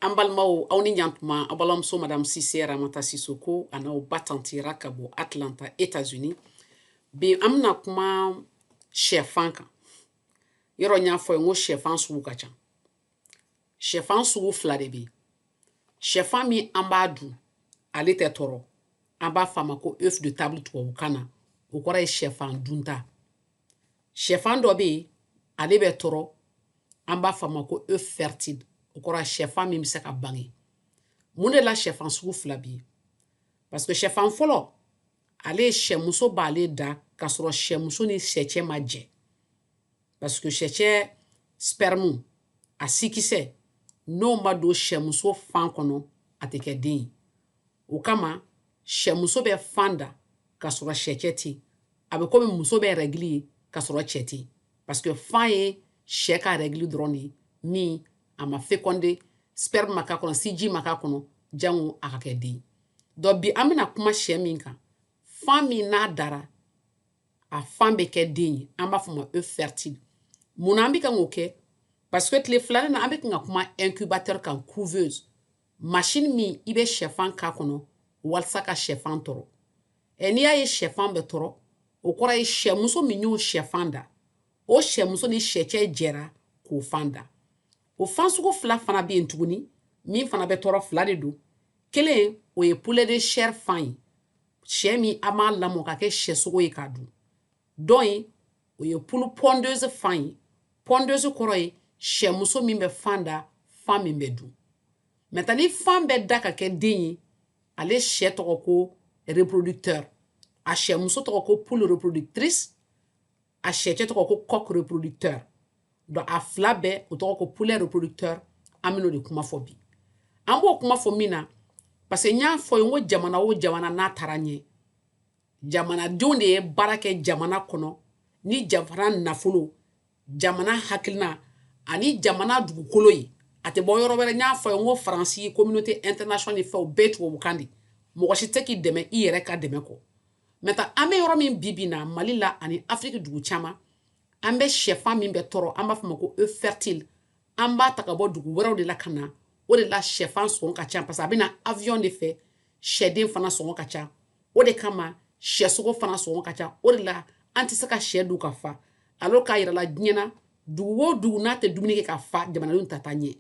an balimaw aw ni ɲantuma aw balimamuso madame sise ramata sisoko an'aw ba tanti ra ka bɔ atlanta états unis bi an bɛna kuma shɛfan kan yɔrɔ n y'a f'aw ye n ko shɛfan sugu ka ca shɛfan sugu fila de bɛ shɛfan min an b'a dun ale tɛ tɔɔrɔ an b'a f'a ma ko œuf de table tubabukan na o kɔrɔ ye shɛfan dunta sɛfan dɔ bɛ yen ale bɛ tɔɔrɔ an b'a fɔ a ma ko œuf fertile o kɔrɔ sɛfan min bɛ se ka bange mun de la sɛfan sugu fila bɛ yen parce que sɛfan fɔlɔ ale ye sɛmuso b'ale da k'a sɔrɔ sɛmuso ni sɛcɛ ma jɛ parce que sɛcɛ spermu a sikisɛ n'o ma don sɛmuso fan kɔnɔ a tɛ kɛ den ye o kama sɛmuso bɛ fan da k'a sɔrɔ sɛcɛ tɛ yen a bɛ komi muso bɛ règle ye k'a sɔrɔ cɛ tɛ parce que fan ye shɛ ka règle dɔrɔn de ye min a ma fécondé sperme ma k'a kɔnɔ siji ma k'a kɔnɔ jango a ka kɛ den donc bi an bɛna kuma shɛ min kan fan min n'a dara a fan bɛ kɛ den ye an b'a fɔ ma œuf fertile mun na an bɛ kan k'o kɛ parce que tile fila nin na an bɛ kan ka kuma incubateur kan couveuse machine min i bɛ sɛfan k'a kɔnɔ walasa ka sɛfan tɔrɔ ɛ n'i y'a ye sɛfan bɛ tɔrɔ o kɔrɔ ye sɛmuso min y'o sɛfan da o sɛmuso ni sɛcɛ jɛra k'o fan da o fan sugu fila fana bɛ yen tuguni min fana bɛ tɔrɔ fila de don kelen o ye poulet de chair fan ye sɛ min an b'a lamɔ ka kɛ sɛsogo ye k'a dun dɔ in o ye poule pondeuse fan ye pondeuse kɔrɔ ye sɛmuso min bɛ fan da fan min bɛ dun maintenant ni fan bɛ da ka kɛ den ye ale sɛ tɔgɔ ko reproducteur a sɛmuso tɔgɔ ko poule reproductrice a sɛcɛ tɔgɔ ko coq reproducteur donc a fila bɛɛ o tɔgɔ ko poulet reproducteur an bɛn'o de kuma fɔ bi an b'o kuma fɔ min na parce que n y'a f'aw ye n ko jamana o jamana n'a taara ɲɛ jamanadenw de ye baara kɛ jamana kɔnɔ ni jamana nafolo jamana hakilina ani jamana dugukolo ye a tɛ bɔ yɔrɔ wɛrɛ n y'a f'aw ye n ko faransi communauté internationale fɛn o bɛɛ tubabukan de mɔgɔ si tɛ se k'i dɛmɛ i yɛrɛ ka dɛmɛ kɔ maintenant an bɛ yɔrɔ min bi bi na mali la ani afiriki dugu caman an bɛ sɛfan min bɛ tɔɔrɔ an b'a fɔ ma ko œuf fertile an b'a ta ka bɔ dugu wɛrɛw de la ka na o de la shɛfan sɔngɔ ka ca parce que a bɛ na avion de fɛ shɛden fana sɔngɔ ka ca o de kama shɛsogo fana sɔngɔ ka ca o de la an tɛ se ka shɛ dun ka fa alors k'a yirala diɲɛ na dugu o dugu n'a tɛ dumuni kɛ ka fa jamanadenw tɛ taa ɲɛ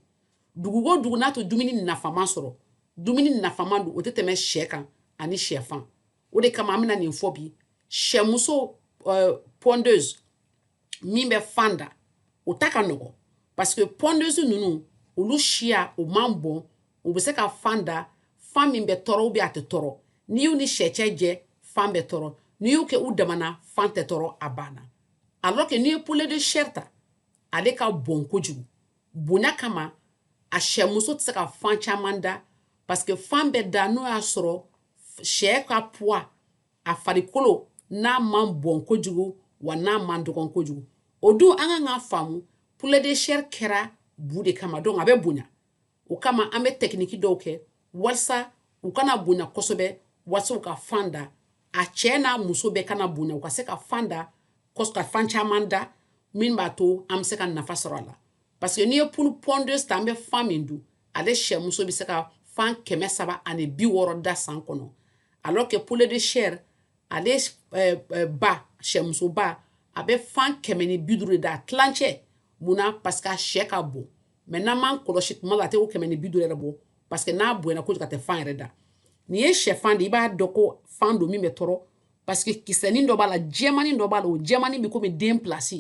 dugu o dugu n'a tɛ dumuni nafama sɔrɔ dumuni nafama dun o tɛ tɛmɛ shɛ kan ani shɛfan o de kama an bɛna nin fɔ bi sɛmuso euh, pondeuse min bɛ fan da o ta ka nɔgɔ parce que pondeuse ninnu olu siya o man bon u bɛ se ka fan da fan min bɛ tɔɔrɔ ou bien a tɛ tɔɔrɔ n'i y'u ni sɛcɛ jɛ fan bɛ tɔɔrɔ n'i y'u kɛ u damana fan tɛ tɔɔrɔ a banna alors que n'i ye poulet de chair ta ale ka bon kojugu bonya kama a sɛmuso tɛ se ka fan caman da parce que fan bɛ da n'o y'a sɔrɔ sɛ ka poids a farikolo n'a man bon kojugu wa n'a man dɔgɔn kojugu o dun an ka kan k'a faamu poulet de chair kɛra bu de kama donc a bɛ bonya o kama an bɛ technique dɔw kɛ walisa u kana bonya kosɛbɛ walisa u ka fan da a cɛ n'a muso bɛɛ kana bonya u ka se ka fan da ka fan caman da min b'a to an bɛ se ka nafa sɔrɔ a la parce que n'i ye poule pondeuse ta an bɛ fan min dun ale sɛmuso bɛ se ka fan kɛmɛ saba ani bi wɔɔrɔ da san kɔnɔ alors que poulet de chair ale eh, eh, ba sɛmusoba a bɛ fan kɛmɛ ni bi duuru de da a tilancɛ mun na parce que a sɛ ka bon mais n'an m'a kɔlɔsi tuma la a tɛ o kɛmɛ ni bi duuru yɛrɛ bɔ parce que n'a bonyana kojugu a tɛ fan yɛrɛ da n'i ye sɛfan ci i b'a dɔn ko fan don min bɛ tɔɔrɔ parce que kisɛnin dɔ b'a la jɛmanin dɔ b'a la o jɛmanin bɛ comme den place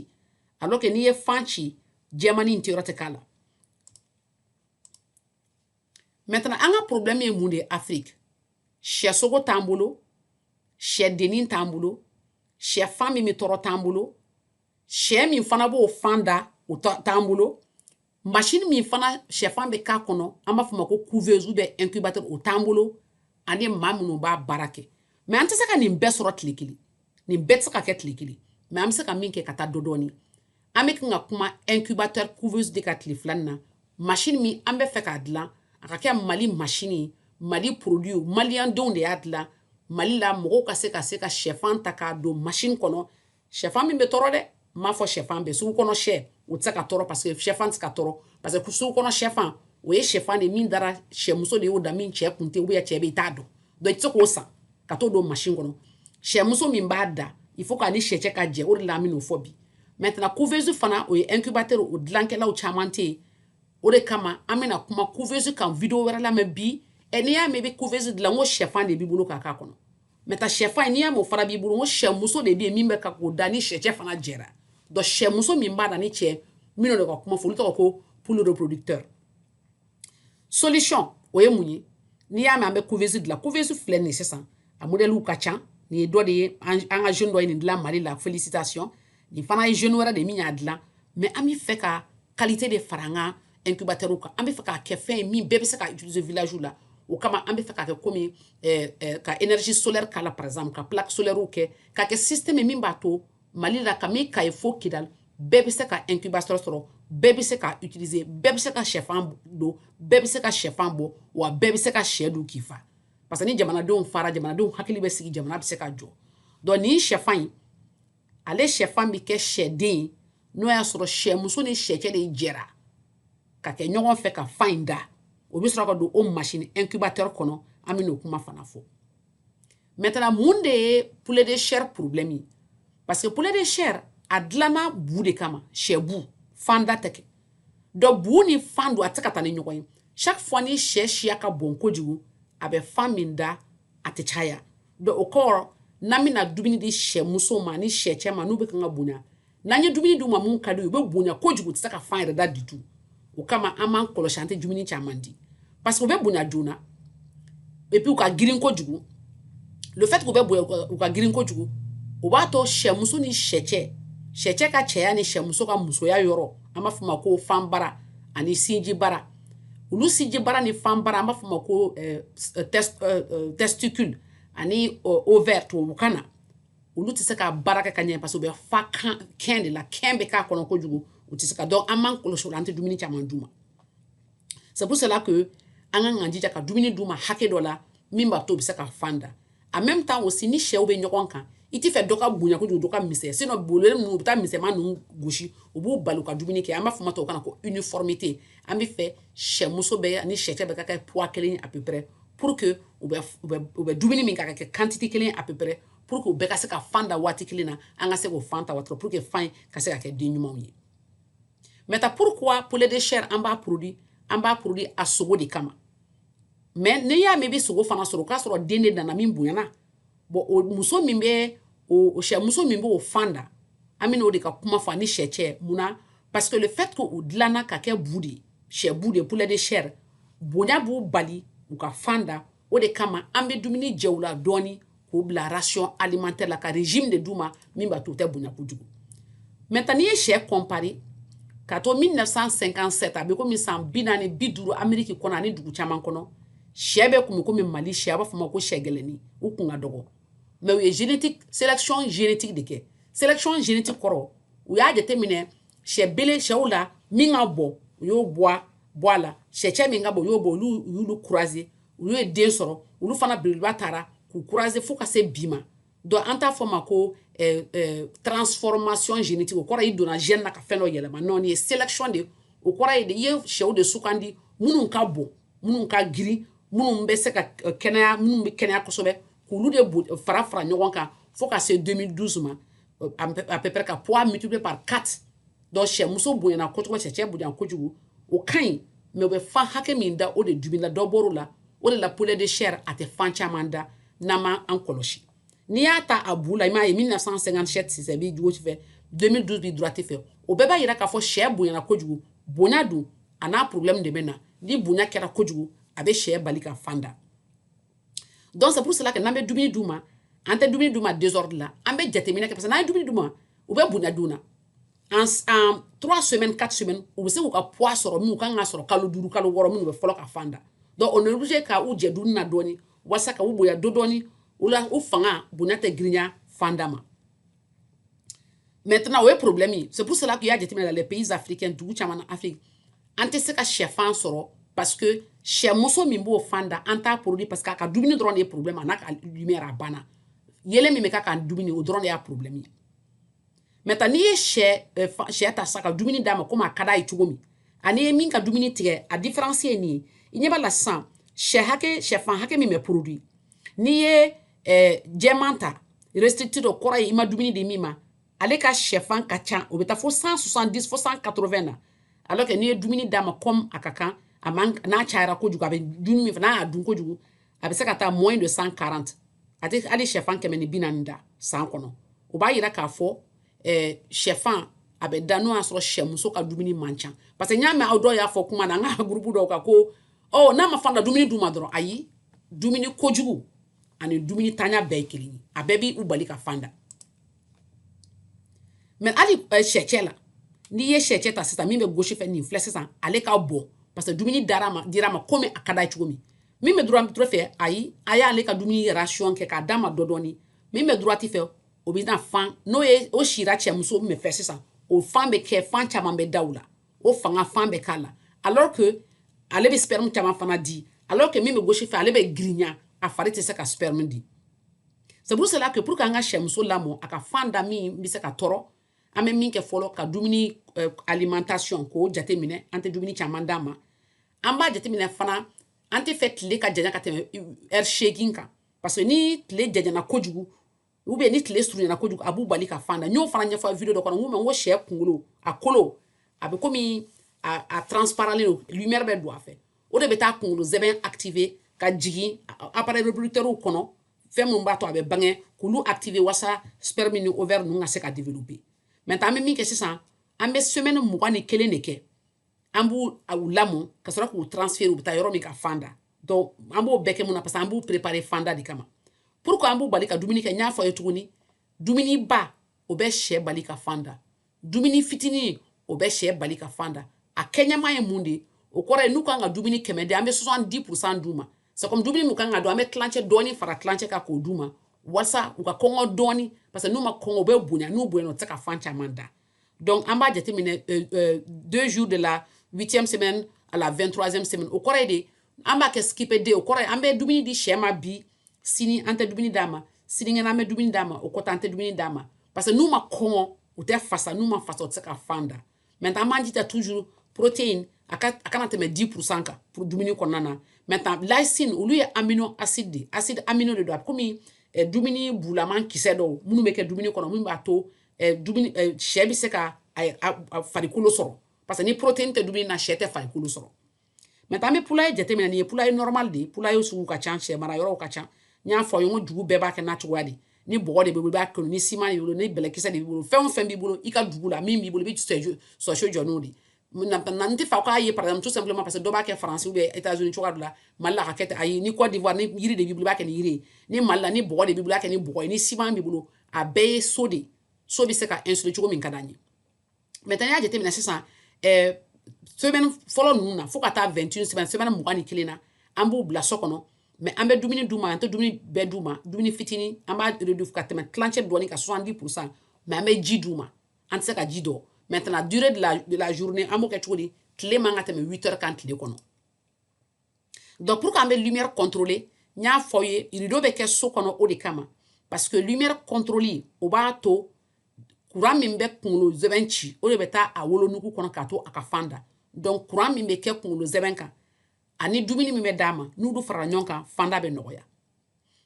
alors que n'i ye fan ci jɛmanin tɛ yɔrɔ tɛ k'a la maintenant an ka problème ye mun de ye afrique sɛsogo t'an bolo sɛdennin t'an bolo sɛfan min bɛ tɔɔrɔ t'an bolo sɛ min fana b'o fan da o t'an bolo masini min fana sɛfan bɛ k'a kɔnɔ an b'a fɔ ma ko couveuse ou bien incubateur o t'an bolo ani maa minnu b'a baara kɛ mais an tɛ se ka nin bɛɛ sɔrɔ tile kelen nin bɛɛ tɛ se ka kɛ tile kelen mais an bɛ se ka min kɛ ka taa dɔ dɔɔni an bɛ kan ka kuma incubateur couveuse de kan tile fila in na masini min an bɛ fɛ k'a dilan a ka kɛ mali masini ye mali produit ye malien denw de y'a dilan mali la mɔgɔw ka se ka se ka sɛfan ta k'a don masini kɔnɔ shɛfan min bɛ tɔɔrɔ dɛ n m'a fɔ shɛfan bɛɛ sugu kɔnɔ shɛ o tɛ se ka tɔɔrɔ parce que shɛfan tɛ se ka tɔɔrɔ parce que sugu kɔnɔ shɛfan o ye shɛfan de min dara shɛmuso de y'o da min cɛ kun tɛ ou bien cɛ bɛ i t'a dɔn donc i tɛ se k'o san ka t'o don machine kɔnɔ shɛmuso min b'a da il faut k'a ni shɛ cɛ ka jɛ o de la an bɛ n'o fɔ bi maintenant couveuse fana o ye incubateur o dilankɛlaw caman tɛ yen o de kama an bɛna kuma couveuse kan video wɛrɛ la mais bi ɛ n'i y'a mɛn i bɛ couveuse dilan n ko shɛfan de b'i bolo k'a k'a kɔnɔ maintenant shɛfan in n'i y'a mɛn o fana b'i bolo n ko shɛmuso de bɛ yen min bɛ kan k'o da ni shɛcɛ fana jɛra donc shɛmuso min b'a da ni cɛ minnu de ka kuma fɔ olu tɔgɔ ko poule reproducteur solution o ye mun ye n'i y'a mɛn an bɛ couveuse dilan couveuse filɛ nin ye sisan a modèle ka ca nin ye dɔ de ye an ka jeune dɔ ye nin dilan mali la félicitation nin fana ye jeune wɛrɛ de min y'a dilan mais an bɛ fɛ ka qualité de fara an ka incubateur kan an bɛ fɛ k'a kɛ fɛn ye min bɛɛ bɛ se ka utiliser village la o kama an bɛ fɛ k'a kɛ komi eh, eh, ka énergie solaire k'a la par exemple ka plaque solaire kɛ k'a kɛ système min b'a to mali la ka min kayi fo kidali bɛɛ bɛ se ka incubateur sɔrɔ bɛɛ bɛ se ka utiliser bɛɛ bɛ se ka sɛfan don bɛɛ bɛ se ka sɛfan bɔ wa bɛɛ bɛ se ka sɛ dun k'i fa parce que ni jamanadenw fara jamanadenw hakili bɛ sigi jamana bɛ se ka jɔ donc nin sɛfan in ale shɛfan bɛ kɛ shɛden ye n'o y'a sɔrɔ shɛmuso ni shɛcɛ de jɛra ka kɛ ɲɔgɔn fɛ ka fan in da o bɛ sɔrɔ ka don o masini incubateur kɔnɔ an bɛ n'o kuma fana fɔ maintenant mun de ye poulet de chair problème ye parce que poulet de chair a dilanna bu de kama shɛ bu fan da tɛ kɛ donc bu ni fan don a tɛ se ka taa ni ɲɔgɔn ye chaque fois ni shɛ siya ka bon kojugu a bɛ fan min da a tɛ caya Donc o kɔrɔ n'an bɛna dumuni di sɛmuso ma ni sɛ cɛ ma n'u bɛ kan ka bonya n'an ye dumuni d'u ma minnu ka di u bɛ bonya ko kojugu u tɛ se ka fan yɛrɛ da du tout o kama an b'an kɔlɔsi an tɛ dumuni caman di parce que u bɛ bonya joona et puis u ka girin ko kojugu le fait k'u bɛ bonya u ka girin ko kojugu o b'a to sɛmuso ni sɛ cɛ sɛ cɛ ka cɛya ni sɛmuso ka musoya yɔrɔ an b'a fɔ ma ko fan bara ani sinji bara olu sinji bara ni fan bara an b'a fɔ ma ko eh, eh, eh, testicule ani ovaire tubabukan na olu tɛ se ka baara kɛ ka ɲɛ parce que u bɛ fa kɛn de la kɛn bɛ k'a kɔnɔ kojugu u tɛ se ka donc an b'an kɔlɔsi o la an tɛ dumuni caman d'u ma c'est pour cela que an ka kan jija ka dumuni d'u ma hakɛ dɔ la min b'a to u bɛ se ka fan da en même temps aussi ni shɛw bɛ ɲɔgɔn kan i tɛ fɛ dɔ ka bonya kojugu dɔ ka misɛn sinon bololen ninnu u bɛ taa misɛnman ninnu gosi u b'u bali u ka dumuni kɛ an b'a fɔ ma tubabukan na ko uniformité an bɛ fɛ sɛmuso bɛɛ ani sɛcɛ bɛɛ ka kɛ poids kelen à peu près pour que u bɛ u bɛ u bɛ dumuni min ka kɛ quantité kelen à peu près pour que u bɛɛ ka se ka fan da waati kelen na an ka se k'o fan ta waati pour que fan ka se ka kɛ den ɲumanw ye maintenant pourquoi poulet de chair an b'a produit an b'a produit a sogo de kama mais n'i y'a mɛn i bɛ sogo fana sɔrɔ o k'a sɔrɔ den de nana min bonyana bon o muso min bɛ o sɛ muso min b'o fan da an bɛ n'o de ka kuma fɔ ani sɛ cɛ mun na parce que le fait que o dilanna ka kɛ bu de ye sɛ bu de ye poulet de chair bonya b'u bali u ka fan da o de kama an bɛ dumuni jɛ u la dɔɔni k'u bila ration alimentaire la ka régime de d'u ma min b'a to u tɛ bonya kojugu maintenant n'i ye sɛ comparer ka to 1957 a bɛ komi san bi naani bi duuru ameriki kɔnɔ ani dugu caman kɔnɔ sɛ bɛ kun bɛ komi mali sɛ a b'a fɔ ma ko sɛ gɛlɛnnin u kun ka dɔgɔ mais u ye génétique sélection génétique de kɛ sélection génétique kɔrɔ u y'a jateminɛ sɛ bele sɛw la min ka bon u y'o bɔ bɔ a la sɛcɛ min ka bon u y'o bɔ olu y'olu croiser olu ye den sɔrɔ olu fana beleba tara k'u croiser fo ka se bi ma donc an t'a fɔ ma ko eh, eh, transformation génétique o kɔrɔ i donna gène na ka fɛn dɔ yɛlɛma non nin ye sélection de o kɔrɔ ye de i ye sɛw de sugandi minnu ka bon minnu ka girin minnu bɛ se ka eh, kɛnɛya minnu bɛ kɛnɛya kosɛbɛ k'olu de fara fara ɲɔgɔn kan fo ka se 2012 ma à peu près ka poids multiplié par 4 donc sɛ muso bonyana kojugu sɛ cɛ bonya kojugu o ka ɲi mais u bɛ fan hakɛ min da o de dubila dɔ bɔr'o la o de la poulet de chair a tɛ fan caman da n'an ma an kɔlɔsi n'i y'a ta a bu la i m'a ye 1957 sisɛ b'i gauche fɛ 2012 b'i droite fɛ o bɛɛ b'a yira k'a fɔ sɛ bonyana kojugu bonya dun a n'a problème de bɛ na ni bonya kɛra kojugu a bɛ sɛ bali ka fan da donc c'est pour cela que n'an bɛ dumuni d'u ma an tɛ dumuni d'u ma désordre la an bɛ jateminɛ kɛ parce que n'an ye dumuni d'u ma u bɛ bonya joona en en trois semaines quatre semaines u bɛ se k'u ka poids sɔrɔ min u kan ka sɔrɔ kalo duuru kalo wɔɔrɔ minnu bɛ fɔlɔ ka fan da donc on est obligé ka u jɛ dumuni na dɔɔni walasa ka u bonya dɔ dɔɔni o la u fanga bonya tɛ girinya fan da ma maintenant o ye problème ye c'est pour cela qu'i y'a jateminɛ la les pays africains dugu caman na afrique an tɛ se ka sɛfan sɔrɔ parce que sɛmuso min b'o fan da an t'a produit parce que a ka dumuni dɔrɔn de ye problème a n'a ka lumière a banna yeelen min bɛ k'a ka dumuni o dɔrɔn de y'a problème ye maintenant n'i ye sɛ euh, sɛ ta sisan ka dumuni d'a ma komi a ka d'a ye cogo min an'i ye min ka dumuni tigɛ a différence ye nin ye i ɲɛ b'a la sisan sɛ hakɛ sɛfan hakɛ min bɛ produit n'i ye eh, jɛman ta restricted o kɔrɔ ye i ma dumuni di min ma ale ka sɛfan ka ca o bɛ taa fo 170 fo 180 na alors que n'i ye dumuni d'a ma comme a ka kan a man n'a cayara kojugu a bɛ dumuni min fɛ n'a y'a dun kojugu a bɛ se ka taa moins de 140 a tɛ hali sɛfan kɛmɛ ni bi naani da san kɔnɔ o b'a yira k'a fɔ eh, sɛfan a bɛ da n'o y'a sɔrɔ sɛmuso ka dumuni man ca parce que n y'a mɛn aw dɔw y'a fɔ kuma na an ka gurupu dɔw kan ko ɔ n'a ma fan da dumuni d'u ma dɔrɔn ayi dumuni kojugu ani dumunintanya bɛɛ ye kelen ye a bɛɛ b'u bali ka fan da mais hali eh, sɛcɛ la n'i ye sɛcɛ ta sisan min bɛ gauche fɛ nin filɛ sisan ale ka bon parce que dumuni dar'a ma dir'a ma komi a ka d'a ye cogo min min bɛ droite droite fɛ ayi a y'ale ka dumuni ration kɛ k'a d'a ma dɔ dɔɔni min bɛ droite fɛ o bɛ na fan n'o ye o sira sɛmuso min fɛ sisan o fan bɛ kɛ fan caman bɛ da u la o fanga fan bɛ k'a la alors que ale bɛ sperme caman fana di alors que min bɛ gauche fɛ ale bɛ girinya a fari tɛ se ka sperme di c'est pour cela que pour que an ka sɛmuso lamɔ a ka fan da min bɛ se ka tɔrɔ an bɛ min kɛ fɔlɔ ka dumuni euh, alimentation k'o jateminɛ an tɛ dumuni caman d'a ma an b'a jateminɛ fana an t'a fɛ tile ka janya ka tɛmɛ heure seegin kan parce que ni tile janyana kojugu ou bien ni tile surunyana kojugu a b'u bali ka fan da n y'o fana ɲɛfɔ video dɔ kɔnɔ n ko sɛ kunkolo a kolo a bɛ komi a transparent don lumière bɛ don a fɛ o de bɛ taa kunkolo zɛbɛn activer ka jigin appareil reproducteur kɔnɔ fɛn min b'a to a bɛ bange k'olu activer walasa sperme ni ovaire ninnu ka se ka développer maintenant an bɛ min kɛ sisan an bɛ semaine mugan ni kelen de kɛ an b'u lamɔ ka sɔrɔ k'u transférer u bɛ taa yɔrɔ min ka fan da donc an b'o bɛɛ kɛ mun na parce que an b'u préparer fanda de kama pourquoi an b'u bali ka dumuni kɛ n y'a fɔ ye tuguni dumuni ba o bɛ sɛ bali ka fan da dumuni fitinin o bɛ sɛ bali ka fan da a kɛɲɛma ye mun de ye o kɔrɔ ye n'u kan ka dumuni kɛmɛ di an bɛ 70 pourcent d'u ma c'est comme dumuni min kan ka dun an bɛ tilancɛ dɔɔni fara tilancɛ kan k'o d'u ma walasa u ka kɔngɔ dɔɔni parce que n'u ma kɔngɔ u bɛ bonya n'u bonyana u tɛ se ka fan caman da donc an b'a jateminɛ euh, euh, deux jours de la huitième semaine à la vingt troisième semaine o kɔrɔ ye de an b'a kɛ skip a day o kɔrɔ ye an bɛ dumuni di sɛ ma bi sini an tɛ dumuni d'a ma sinikɛnɛ an bɛ dumuni d'a ma o kɔfɛ an tɛ dumuni d'a ma parce que n'u ma kɔngɔ u tɛ fasa n'u ma fasa u tɛ se ka fan da maintenant an b'an jija toujours protéine a ka a kana tɛmɛ 10 pourcent kan pour dumuni kɔnɔna na maintenant lysine olu ye amino acide de acide amino de don a bɛ komi eh, dumuni bulaman kisɛ dɔw minnu bɛ kɛ dumuni kɔnɔ minnu b'a to eh, dumuni eh, sɛ bɛ se ka farikolo sɔrɔ parce que ni protéine tɛ dumuni na sɛ tɛ farikolo sɔrɔ maintenant an bɛ poulailler jateminɛ nin ye poulailler normal de ye poulailler sugu ka ca sɛ mara yɔrɔw ka ca n y'a fɔ aw ye n ko dugu bɛɛ b'a kɛ n'a cogoya de ni bɔgɔ de b'i bolo i b'a kɛ ni siman de b'i bolo ni bɛlɛkisɛ de b'i bolo fɛn o fɛn b'i bolo i ka dugu la min b'i bolo i bɛ sɛso jɔ n'o de ye n t'a fɛ k'a ye par exemple tout simplement parce que dɔ b'a kɛ France ou bien États-Unis cogoya dɔ la Mali la ka kɛ ten ayi ni Côte d'Ivoire ni yiri de b'i bolo i b'a kɛ ni yiri ye ni Mali la ni bɔgɔ de b'i bolo i b'a kɛ ni bɔgɔ ye ni siman b'i bolo a bɛɛ ye so de ye so bɛ se ka insuler cogo min ka d'an ye maintenant n'i y'a jateminɛ sisan ɛɛ semaine fɔlɔ ninnu na fo ka taa 21 semaine semaine mugan ni kelen na an b'u bila so kɔnɔ mais an bɛ dumuni d'u ma an tɛ dumuni bɛɛ d'u ma dumuni fitinin an b'a réduire ka tɛmɛ tilancɛ dɔɔni kan 70 pour cent mais an bɛ ji d'u ma an tɛ se ka ji dɔ maintenant durée de la, de la journée an b'o kɛ cogo di tile man ka tɛmɛ 8 heures kan tile kɔnɔ donc pour qu'an bɛ lumière contrôler n y'a fɔ aw ye rideau bɛ kɛ so kɔnɔ o de kama parce que lumière contrôle o b'a to courant min bɛ kunkolo zɛbɛn ci o de bɛ taa a wolonugu kɔnɔ k'a to a ka fan da donc courant min bɛ kɛ kunkolo zɛbɛn kan ani dumuni min bɛ d'a ma n'olu farala ɲɔgɔn kan fanda bɛ nɔgɔya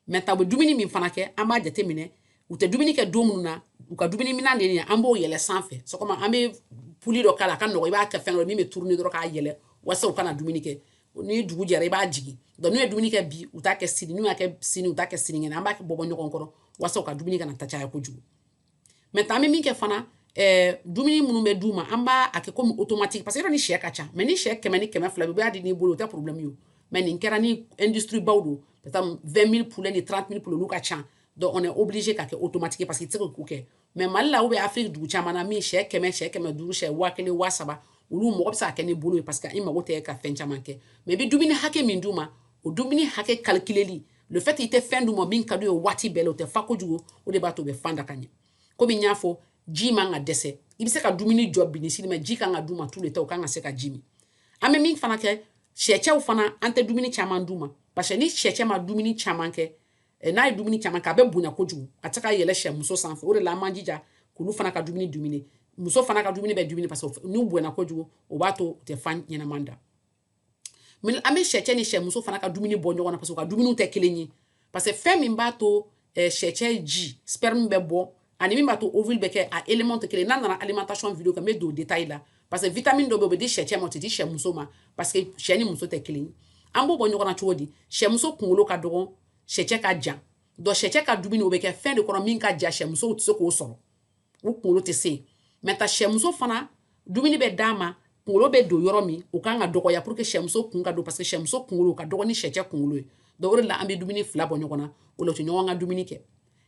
maintenant u bɛ dumuni min fana kɛ an b'a jate minɛ u tɛ dumuni kɛ don minnu na u ka dumuni minan de ye an b'o yɛlɛ sanfɛ c'est comme an bɛ poulie dɔ k'a la a ka nɔgɔ i b'a kɛ fɛn dɔ min bɛ tourner dɔrɔn k'a yɛlɛ walasa u kana dumuni kɛ ni dugu jɛra i b'a jigin donc n'u ye dumuni kɛ bi u t'a kɛ sini n'u y'a kɛ sini u t'a kɛ sinikɛnɛ an b'a bɔ bɔ ɲɔgɔn kɔrɔ walasa u ka dumuni kana taa caya kojugu maintenant an bɛ min kɛ fana eh, dumuni minnu bɛ d'u ma an b'a kɛ komi automatique parce que yɔrɔ ni sɛ ka ca mais ni sɛ kɛmɛ ni kɛmɛ fila bɛ i b'a di n'i bolo o tɛ problème ye o mais nin kɛra ni industrie baw don peut être 20 000 poulet ni 30 000 poulet olu ka ca donc on est obligé k'a kɛ automatique parce que i tɛ se k'o kɛ mais mali la ou bien afrique dugu caman na min sɛ kɛmɛ sɛ kɛmɛ duuru sɛ waa kelen waa saba olu mɔgɔ bɛ se ka kɛ ni bolo ye parce que i mago tɛ ka fɛn caman kɛ mais i bɛ dumuni hakɛ min d'u ma o dumuni hakɛ calculeli le fait i tɛ fɛn d'u ma min ka d'u ye waati bɛɛ la u tɛ fa kojugu o de b'a to u bɛ fan da ka ɲɛ komi n y'a fɔ ji man ka dɛsɛ i bɛ se ka dumuni jɔ bi ni sini mais ji kan ka d'u ma tous les temps u kan ka se ka ji min an bɛ min fana kɛ sɛcɛw fana an tɛ dumuni caman d'u ma parce que ni sɛcɛ ma dumuni caman kɛ eh, n'a ye dumuni caman kɛ a bɛ bonya kojugu a tɛ se ka yɛlɛ sɛmuso sanfɛ o de la an b'an jija k'olu fana ka dumuni diminuer muso fana ka dumuni bɛ diminuer parce que n'u bonya kojugu o b'a to u tɛ fan ɲɛnama da an bɛ sɛcɛ ni sɛmuso fana ka dumuni bɔ ɲɔgɔn na parce que u ka dumuni tɛ kelen ye parce que fɛn min b'a to eh, sɛcɛ ji sperme bɛ bɔ ani min b'a to ovule bɛ kɛ a élément tɛ kelen n'an nana alimentation vidéo kan n bɛ don détail la parce que vitamine dɔ bɛ yen o bɛ di sɛcɛ ma o tɛ di sɛmuso ma parce que cɛ ni muso tɛ kelen ye an b'o bɔ ɲɔgɔn na cogo di sɛmuso kunkolo ka dɔgɔn sɛcɛ ka jan donc sɛcɛ ka dumuni o bɛ kɛ fɛn de kɔnɔ min ka jan sɛmusow tɛ se k'o sɔrɔ u kunkolo tɛ se maintenant sɛmuso fana dumuni bɛ d'a ma kunkolo bɛ don yɔrɔ min o kan ka dɔgɔya pour que sɛmuso kun ka don parce que sɛmuso kunkolo ka dɔgɔn ni sɛcɛ kunkolo ye donc o de la an bɛ dumuni fila bɔ ɲɔgɔn na o la u tɛ ɲɔgɔn ka dumuni kɛ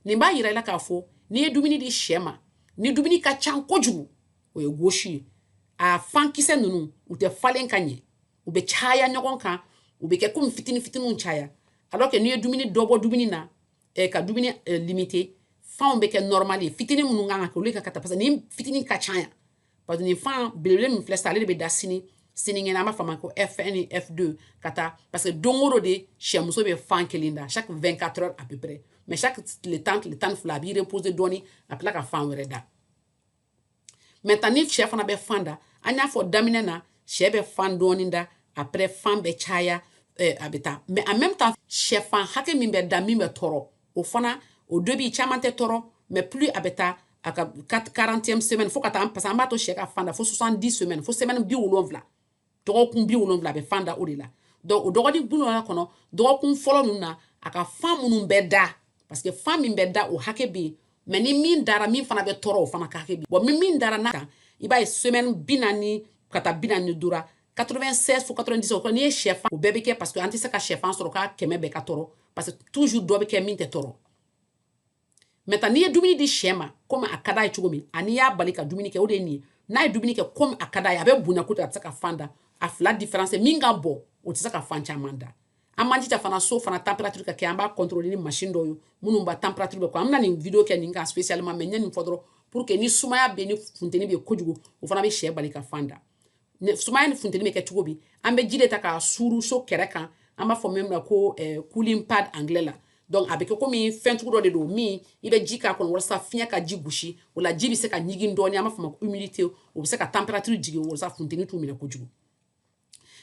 nin b'a yira i la k'a fɔ n'i ye dumuni di sɛ ma ni dumuni ka ca kojugu o ye gauche ye a fan kisɛ ninnu u tɛ falen ka ɲɛ u bɛ caya ɲɔgɔn kan u bɛ kɛ komi fitini fitiniw caya alors que n'i ye dumuni dɔ bɔ dumuni na eh, ka dumuni eh, limiter fanw bɛ kɛ normal ye fitini minnu kan ka kɛ olu ka taa parce que nin fitini ka ca yan parce que nin fan belebele min filɛ sisan ale de bɛ da sini sinikɛnɛ an b'a fɔ a ma ko f1 ni f2 ka taa parce que don o don de sɛmuso bɛ fan kelen da chaque 24 heures à peu près mais chaque tile tan tile tan ni fila a b'i reposer dɔɔni a tila ka fan wɛrɛ da maintenant ni sɛ fana bɛ fan da an y'a fɔ daminɛ na sɛ bɛ fan dɔɔni da après fan bɛ caya eh, a bɛ taa mais en même temps sɛfan hakɛ min bɛ da min bɛ tɔɔrɔ o fana o début caman tɛ tɔɔrɔ mais plus a bɛ taa a ka 40e semaine fo ka taa parce que an b'a to sɛ ka fan da fo 70 semaine fo semaine bi wolonwula dɔgɔkun bi wolonwula a bɛ fan da o de la donc o dɔgɔkun bi wolonwula kɔnɔ dɔgɔkun fɔlɔ ninnu na a ka fan minnu bɛ da parce que fan min bɛ da o hakɛ bɛ yen mais ni min dara min fana bɛ tɔɔrɔ o fana ka hakɛ bɛ yen bon min dara n'a kan i b'a ye semaine bi naani ka taa bi naani duuru 96 fo 90 o kɔnɔ n'i ye sɛfan o bɛɛ bɛ kɛ parce que an tɛ se ka sɛfan sɔrɔ k'a kɛmɛ bɛɛ ka tɔɔrɔ parce que toujours dɔ bɛ kɛ min tɛ tɔɔrɔ maintenant n'i ye dumuni di sɛ ma komi a ka d'a ye cogo min ani y'a bali ka dumuni kɛ o de ye nin ye n'a ye dumuni kɛ komi a ka d'a ye a bɛ bonya kojugu a tɛ se ka fan da a fila différence min ka bɔ o tɛ se ka fan caman da an man jija fana so fana température ka kɛ an b'a contrôler ni machine dɔw ye minnu b'a température bɛ kɔ an bɛna nin video kɛ nin kan spécialement mais n ye nin fɔ dɔrɔn pour que ni sumaya bɛ ni funteni bɛ kojugu o fana bɛ sɛ bali ka fan da sumaya ni funteni bɛ kɛ cogo di an bɛ ji de ta k'a suuru so kɛrɛ kan an b'a fɔ min ma ko eh, cooling pad anglais la donc a bɛ kɛ komi fɛn cogo dɔ de don min i bɛ ji k'a kɔnɔ walasa fiɲɛ ka ji gosi o la ji bɛ se ka ɲigin dɔɔni an b'a fɔ ma ko humidité o bɛ se ka température jigin walasa funteni t'u minɛ kojugu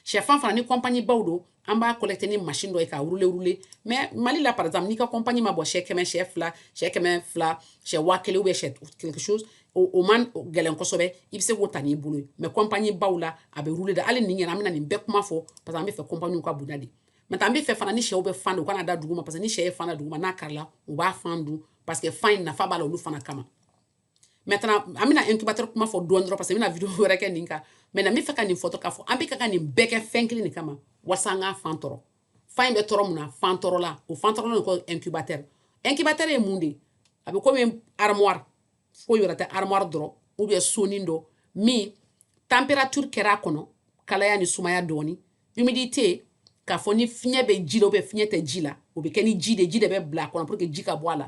sɛfan fana ni compagnie baw don an b'a collecter ni machine dɔ ye k'a rouler rouler mais Mali la par exemple n'i ka compagnie ma bɔ sɛ kɛmɛ sɛ fila sɛ kɛmɛ fila sɛ waa kelen ou bien sɛ quelque chose o o man gɛlɛn kosɛbɛ i bɛ se k'o ta n'i bolo ye mais compagnie baw la a bɛ rouler de hali nin ɲɛna an bɛna nin bɛɛ kuma fɔ parce que an bɛ fɛ compagnie ka bonya de mais an bɛ fɛ fana ni sɛw bɛ fan da u kan'a da duguma parce que ni sɛ ye fan da duguma n'a karila u b'a fan dun parce que fan in nafa b'a la olu fana kama maintenant an bɛna incubateur kuma fɔ dɔɔni dɔrɔn parce que n bɛna video wɛrɛ kɛ nin kan maintenant n bɛ fɛ ka nin fɔ dɔrɔn k'a fɔ an bɛ ka ka nin bɛɛ kɛ fɛn kelen de kama walasa an ka fan tɔrɔ fan in bɛ tɔrɔ mun na fan tɔrɔla o fan tɔrɔla de ko incubateur incubateur ye mun de ye a bɛ komi armoire foyi wɛrɛ tɛ armoire dɔrɔn ou bien sonin dɔ min température kɛra a kɔnɔ kalaya ni sumaya dɔɔni humidité k'a fɔ ni fiɲɛ bɛ ji la ou bien fiɲɛ tɛ ji la o bɛ kɛ ni ji de ji de bɛ bila a kɔnɔ pour que ji ka bɔ a la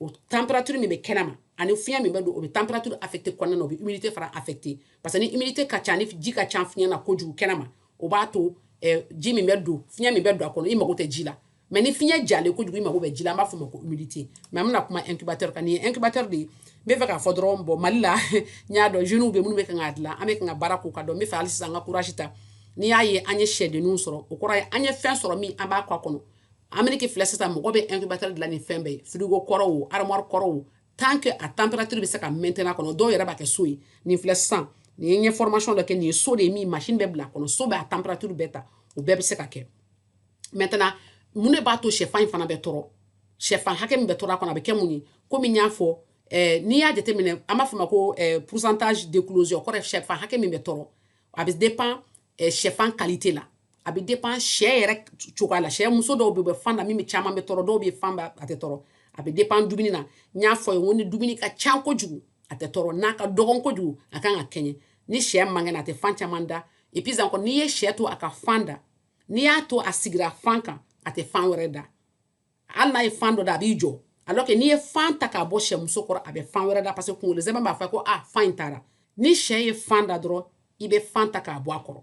o température min bɛ kɛnɛ ma ani fiɲɛ min bɛ don o bɛ température affecté kɔnɔna na o bɛ humidité fana affecté parce que ni humidité ka ca ni ji ka ca fiɲɛ na kojugu kɛnɛ ma o b'a to eh, ji min bɛ don fiɲɛ min bɛ don a kɔnɔ i mago tɛ ji la mais ni fiɲɛ jalen kojugu i mago bɛ ji la an b'a fɔ ma ko humidité mais an bɛna kuma incubateur kan nin ye incubateur de ye n bɛ fɛ k'a fɔ dɔrɔn bon Mali la n y'a dɔn jeunes bɛ minnu bɛ kan k'a dilan an bɛ kan ka baara k'u ka dɔn n bɛ fɛ hali sisan an ka courage ta n'i y'a ye an ye sɛdenninw sɔrɔ o kɔrɔ ye an ye fɛn sɔrɔ min an b'a kɛ a kɔnɔ Ameriki filɛ sisan mɔgɔ bɛ incubateur dilan ni fɛn bɛɛ ye frigo kɔrɔ o armoire kɔrɔ o tant que a température bɛ se ka maintenir a kɔnɔ dɔw yɛrɛ b'a kɛ so ye nin filɛ sisan nin ye n formation dɔ kɛ nin ye so de ye min machine bɛ bila a kɔnɔ so bɛ a température bɛɛ ta o bɛɛ bɛ se ka kɛ maintenant mun de b'a to sɛfan in fana bɛ tɔrɔ sɛfan hakɛ min bɛ tɔrɔ a kɔnɔ a bɛ kɛ mun ye komi n y'a fɔ eh, n'i y'a jateminɛ an b'a fɔ ma ko eh, pourcentage d'éclosion kɔrɔ sɛfan hakɛ min bɛ tɔrɔ a bɛ dépend eh, sɛfan qualité la a bɛ dépend sɛ yɛrɛ cogoya la sɛ muso dɔw bɛ yen u bɛ fan da min bɛ caman bɛ tɔrɔ dɔw bɛ fan da a tɛ tɔrɔ a bɛ dépend dumuni na n y'a fɔ ye n ko ni dumuni ka ca kojugu a tɛ tɔrɔ n'a ka dɔgɔn kojugu a kan ka kɛɲɛ ni sɛ man kɛnɛ a tɛ fan caman da et puis encore n'i ye sɛ to a ka fan da n'i y'a to a sigira fan kan a tɛ fan wɛrɛ da hali n'a ye fan dɔ da a b'i jɔ alors que n'i ye fan ta k'a bɔ sɛmuso kɔrɔ a bɛ fan wɛrɛ da parce que kunkolo sɛmɛ b'a fɔ ko ah fan in taara ni sɛ ye fan da dɔrɔn i bɛ fan ta k'a bɔ a kɔrɔ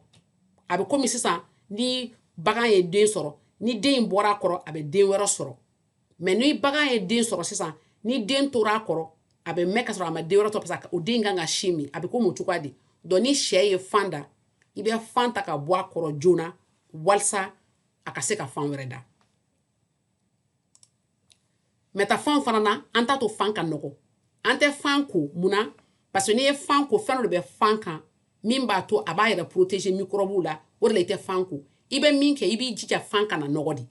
a bɛ komi sisan ni bagan ye den sɔrɔ ni den in bɔra a kɔrɔ a bɛ den wɛrɛ sɔrɔ mais ni bagan ye den sɔrɔ sisan ni den tora a kɔrɔ a bɛ mɛn ka sɔrɔ a ma den wɛrɛ sɔrɔ parce que o den kan ka sin min a bɛ komi o cogoya de donc ni sɛ ye fan da i bɛ fan ta k'a bɔ a kɔrɔ joona walisa a ka se ka fan wɛrɛ da maintenant fan fana na an t'a to fan ka nɔgɔ an tɛ fan ko mun na parce que n'i ye fan ko fɛn dɔ de bɛ fan kan min b'a to a b'a yɛrɛ protéger mikɔrɔbuw la o de la i tɛ fan ko i bɛ min kɛ i b'i jija fan kana nɔgɔ dɛ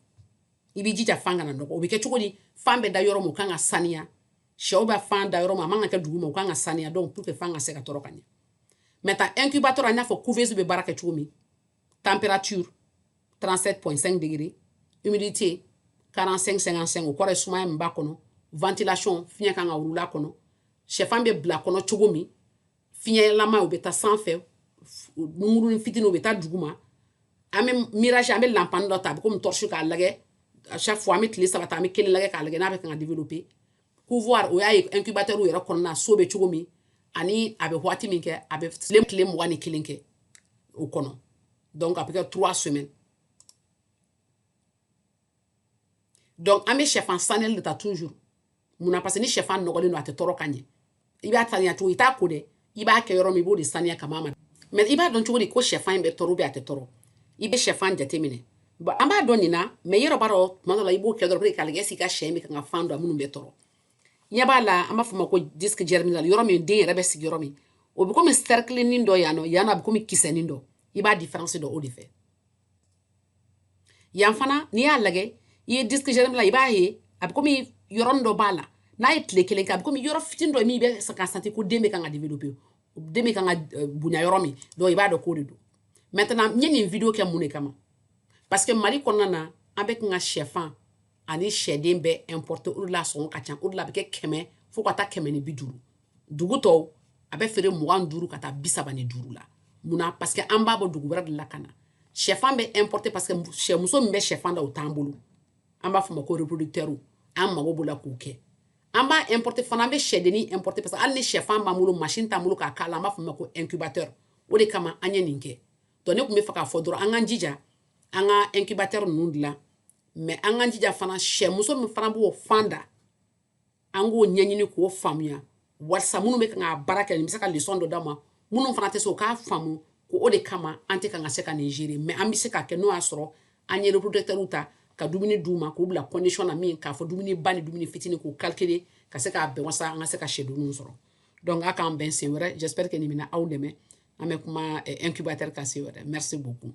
i b'i jija fan kana nɔgɔ o bɛ kɛ cogo di fan bɛ da yɔrɔ min o kan ka saniya sɛw bɛ fan da yɔrɔ min a man ka kɛ dugu ma o kan ka saniya donc pour que fan ka se ka tɔrɔ ka ɲɛ maintenant incubateur i n'a fɔ couveuse bɛ baara kɛ cogo min température 37.5 degrés humidité 45 55 o kɔrɔ ye sumaya min b'a kɔnɔ ventilation fiɲɛ kan ka wulula a kɔnɔ sɛfan bɛ bila kɔnɔ cogo min fiɲɛlama o bɛ taa sanfɛ nunkuruni fitini o bɛ taa duguma an bɛ mirage an bɛ lanpani dɔ ta a bɛ komi torche k'a lagɛ à chaque fois an bɛ tile saba ta an bɛ kelen lagɛ k'a lagɛ n'a bɛ kan ka développer couvoir o y'a ye incubateur yɛrɛ kɔnɔna so bɛ cogo min ani a bɛ waati min kɛ a bɛ tile tile mugan ni kelen kɛ o kɔnɔ donc a bɛ kɛ trois semaines donc an bɛ sɛfan saniyali de ta toujours mun na parce que ni sɛfan nɔgɔlen don a tɛ tɔrɔ ka ɲɛ i b'a saniya cogo i t'a ko dɛ i b'a kɛ yɔrɔ min i b'o de saniya ka ma mais i b'a dɔn cogo di ko sɛfan in bɛ tɔrɔ ou bien a tɛ tɔrɔ i bɛ sɛfan jateminɛ bon an b'a dɔn nin na mais yɔrɔ b'a dɔn tuma dɔ la i b'o kɛ dɔrɔn k'a lagɛ est-ce que i ka sɛ in bɛ kan ka fan dɔn minnu bɛ tɔrɔ ɲɛ b'a la an b'a fɔ o ma ko disque germinal yɔrɔ min den yɛrɛ bɛ sigi yɔrɔ min o bɛ komi sɛrikilinin dɔ yan nɔ yan a bɛ komi kisɛnin dɔ i b'a différence dɔn o de fɛ yan fana n'i y'a lagɛ i ye disque germinal i b'a ye a bɛ komi yɔrɔnin dɔ b'a la n'a ye tile kelen kɛ a bɛ komi yɔrɔ fitini dɔ min bɛ ka santi ko den bɛ kan ka développer den bɛ kan ka eh, bonya yɔrɔ min donc i b'a dɔn k'o de don maintenant n ye nin video kɛ mun de kama parce que mali kɔnɔna na an bɛ kan ka sɛfan ani sɛden bɛɛ importer o de la sɔngɔ ka ca o de la a bɛ kɛ kɛmɛ fo ka taa kɛmɛ ni bi duuru dugu tɔw a bɛ feere mugan duuru ka taa bi saba ni duuru la munna parce que an b'a bɔ dugu wɛrɛ de la ka na shɛfan bɛ importer parce que sɛmuso min bɛ shɛfan da o t'an bolo an b'a fɔ o ma ko reproducteur an mago b'o la k'o kɛ an b'a importer fana an bɛ sɛdennin importer parce que hali ni shɛfan b'an bolo machine t'an bolo k'a k'a la an b'a fɔ o ma ko incubateur o de kama an ye nin kɛ donc ne tun bɛ fɛ k'a fɔ dɔrɔn an k'an jija an ka incubateur ninnu dilan mais an k'an jija fana sɛmuso min fana b'o fan da an k'o ɲɛɲini k'o faamuya walisa minnu bɛ kan ka baara kɛ nin bɛ se ka leçon dɔ d'a ma minnu fana tɛ se o k'a faamu ko o de kama an tɛ kan ka se ka nin gérer mais an bɛ se k'a kɛ n'o y'a sɔrɔ an ye reproducteurw ta ka dumuni d'u ma k'u bila condition na min k'a fɔ dumuni ba ni dumuni fitini k'u calculer ka se k'a bɛn walasa an ka se ka sɛdenninw sɔrɔ donc a k'an bɛn sen wɛrɛ j'espère que nin bɛna aw dɛmɛ an bɛ kuma eh, incubateur kan sen wɛrɛ merci beaucoup